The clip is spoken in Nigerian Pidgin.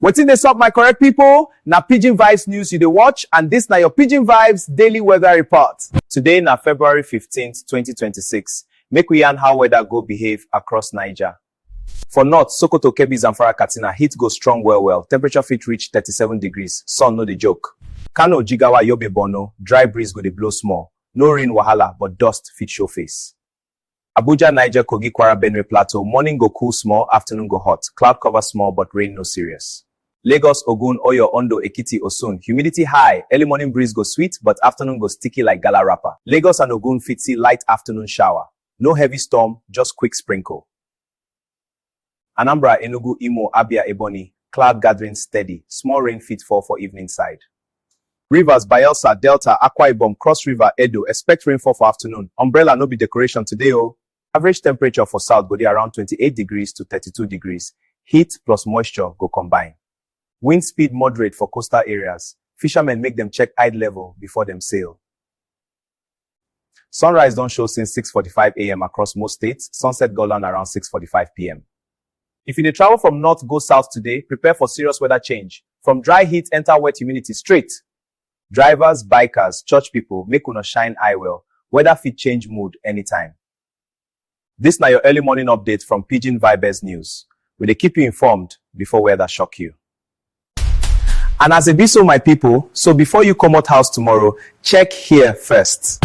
Wetin dey sup my correct pipo? Na Pidgin Vibes news you dey watch and dis na your Pidgin Vibes daily weather report. Today na February fifteen, twenty twenty six, make we yarn how weather go behave across Naija. For north, Sokoto, Kebbi, Zamfara, Katsina, heat go strong well well, temperature fit reach thirty seven degrees, sun no dey joke. Kano, Jigawa, Yobe, Borno, dry breeze go dey blow small, no rain wahala but dust fit show face. Abuja, Niger, Kogi, Kwara, Benue, Plateau, morning go cool small, afternoon go hot, cloud cover small but rain no serious. Lagos, Ogun, Oyo, Ondo, Ekiti, Osun, humidity high, early morning breeze go sweet but afternoon go sticky like gala wrapper. Lagos and Ogun fit see light afternoon shower, no heavy storm, just quick sprinkle. Anambra, Enugu, Imo, Abia, Ebonyi, cloud gathering steady, small rain fit fall for evening side. Rivers, Bayelsa, Delta, Akwa Ibom, Cross River, Edo, expect rainfall for afternoon. Umbrella no be decoration today o. Average temperature for south go dey around 28 degrees to 32 degrees. Heat plus moisture go combine. Wind speed moderate for coastal areas. Fishermen make dem check tide level before dem sail. Sunrise don show since 6:45am across most states, sunset go land around 6:45pm. If you dey travel from north go south today, prepare for serious weather change, from dry heat enter wet humidity straight. Drivers, bikers, church people, make una shine eye well, weather fit change mood anytime. This na your early morning update from Pidgin Vibes News. We dey keep you informed before weather shock you. And as e be so my people, so before you comot house tomorrow, check here first.